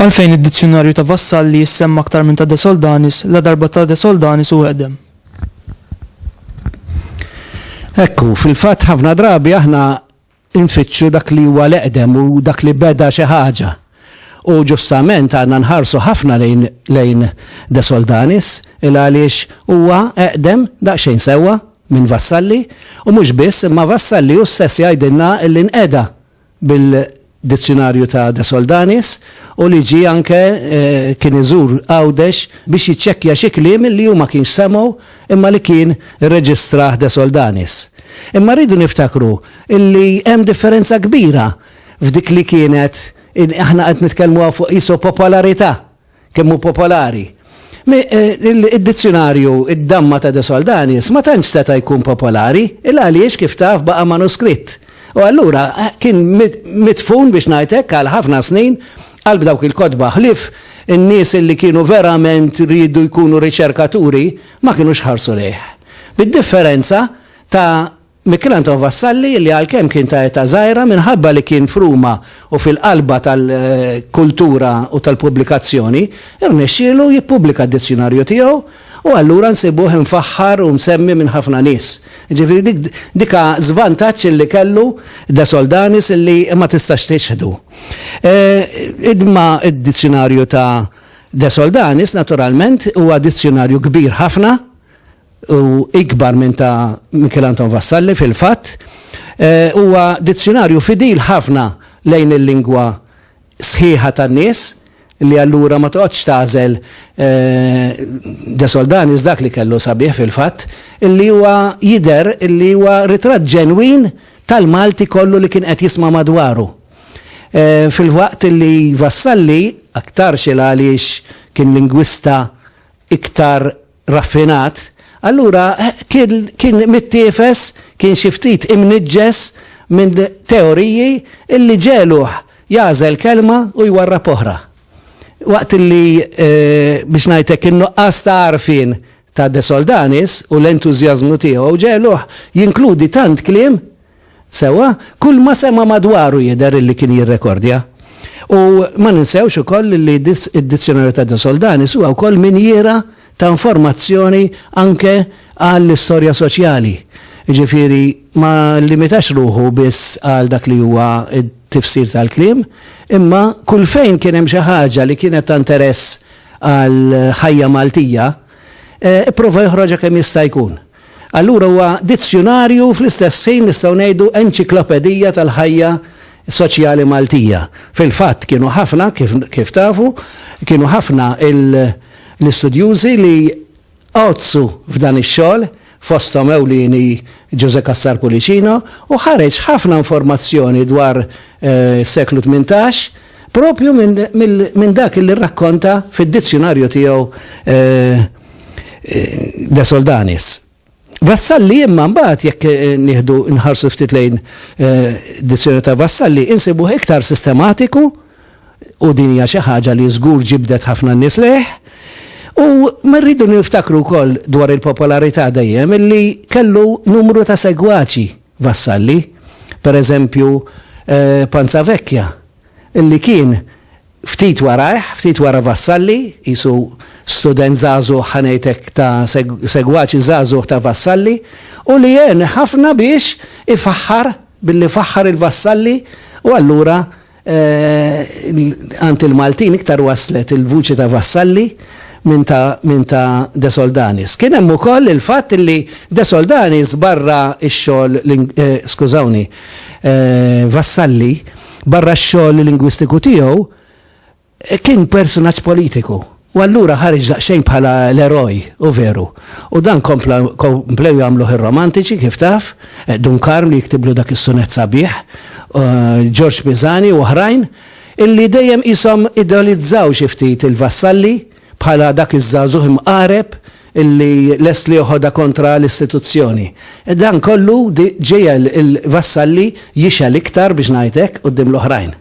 Għalfejn id-dizzjonarju ta' Vassalli jissemma aktar minn ta' De Soldanis la darba ta' De Soldanis u għedem. Ekku, fil-fatt ħafna drabi aħna Infittxu dak li huwa l-eqdem u dak li beda xi ħaġa. U ġustament għandna nħarsu ħafna lejn lejn De Soldanis il-għaliex huwa eqdem daqsxejn sewwa minn Vassalli u mhux biss imma Vassalli hu stess jgħidilna li nqeda bil-dizzjunarju ta' De Soldanis u li ġie anke kien iżur Għawdex biex jiċċekkja xi kliem li hu ma kienx semgħu imma li kien irreġistrah De Soldanis. Imma rridu niftakru illi hemm differenza kbira f'dik li kienet, aħna qed nitkellmu hawn fuq qisu popolarità, kemm hu popolari. Id-dizzjunarju Id-Damma ta' De Soldanis ma tantx seta' jkun popolari, il għaliex kif taf baqa' manuskritt. U allura kien midfun biex ngħid hekk għal ħafna snin qalb dawk il-kotba, ħlief in-nies illi kienu verament riedu jkunu riċerkaturi ma kinux ħarsu lejh. Bid-differenza ta' Michel Anton Vassalli li għalkemm kien ta' età żgħira minħabba li kien f'Ruma u fil-qalba tal-kultura u tal-pubblikazzjoni, irnexxielu jippubblika d-dizzjunarju tiegħu u allura nsibuh imfaħħar u msemmi minn ħafna nies. Jiġifieri dik ha żvantaġġ li kellu De Soldanis li ma tistax tiċħdu. Imma d-dizzjunarju ta' De Soldanis naturalment huwa dizzjunarju kbir ħafna, u ikbar minn ta' Michel Anton Vassalli fil-fatt, huwa dizzjunarju fidil ħafna lejn il-lingwa sħiħa tan-nies li allura ma toqgħodx tagħżel De Soldanis dak li kellu sabiħ fil-fatt illi huwa jidher illi huwa ritratt ġenwin tal-Malti kollu li kien qed jisma' madwaru. Filwaqt illi Vassalli, aktarx il-għaliex kien lingwista iktar raffinat, allura kien mittiefes, kien xi ftit imniġġes minn teoriji li ġegħluh jagħżel kelma u jwarrab oħra. Waqt li, biex ngħid hekk, in-nuqqas ta' għarfien ta' De Soldanis u l-entużjażmu tiegħu ġegħluh jinkludi tant kliem Sewwa, kulma sema' madwaru jidher illi kien jirrekordja. U ma ninsewx ukoll illi id-Dizzjonarju ta' De Soldanis huwa wkoll minjiera ta' informazzjoni anke għall-istorja soċjali. Jiġifieri ma llimitax ruħu biss għal dak li huwa t-tifsir tal-kliem, imma kull fejn kien hemm xi ħaġa li kienet ta' nteress għall-ħajja Maltija, ipprova joħroġha kemm jista' jkun. Allura huwa dizzjunarju u fl-istess ħin nistgħu ngħidu enċiklopedija tal-ħajja soċjali Maltija. Fil-fatt kienu ħafna, kif kif tafu, kienu ħafna l-istudjużi li għoddsu f'dan ix-xogħol, fosthom ewlieni Ġużè Cassar Pullicino, u ħareġ ħafna informazzjoni dwar is-seklu tmintax, Proprju minn dak li rrakkonta fid-dizzjunarju tiegħu De Soldanis. Vassalli imma mbagħad jekk nieħdu nħarsu ftit lejn dizzjunarju ta' Vassalli insibuh iktar sistematiku u din hija xi ħaġa li żgur ġibdet ħafna nies lejh. U ma rridu niftakru wkoll dwar il-popolarità dejjem illi kellu numru ta' segwaċi Vassalli, per eżempju Panzavecchia, li kien ftit warajh, ftit wara Vassalli, qisu student żagħżugħ, ħa ngħid hekk, ta' segwaċi żagħżugħ ta' Vassalli, u li għen ħafna biex ifaħħar, billi faħħar il-Vassalli, u allura, Għand il-Maltin iktar waslet il-vuċi ta' Vassalli minn ta' De Soldanis. Kien hemm ukoll il-fatt li De Soldanis barra x-xogħol, skużawni, Vassalli barra x-xogħol lingwistiku tiegħu, Kien personaġġ politiku u allura ħareġ daqsxejn bħala l-eroj, hu veru. U dan kompla komplew jagħmluh ir-romantiċi, kif taf, Dun Karm li jiktiblu dak is-sunett sabiħ, Ġorġ Pisani u oħrajn, illi dejjem qishom ideolizzaw xi ftit il-Vassalli bħala dak iż-żagħżugħ imqareb illi lest li joħodha kontra l-istituzzjoni. Dan kollu ġiegħel il-Vassalli jixgħel iktar, biex ngħid hekk, quddiem l-oħrajn.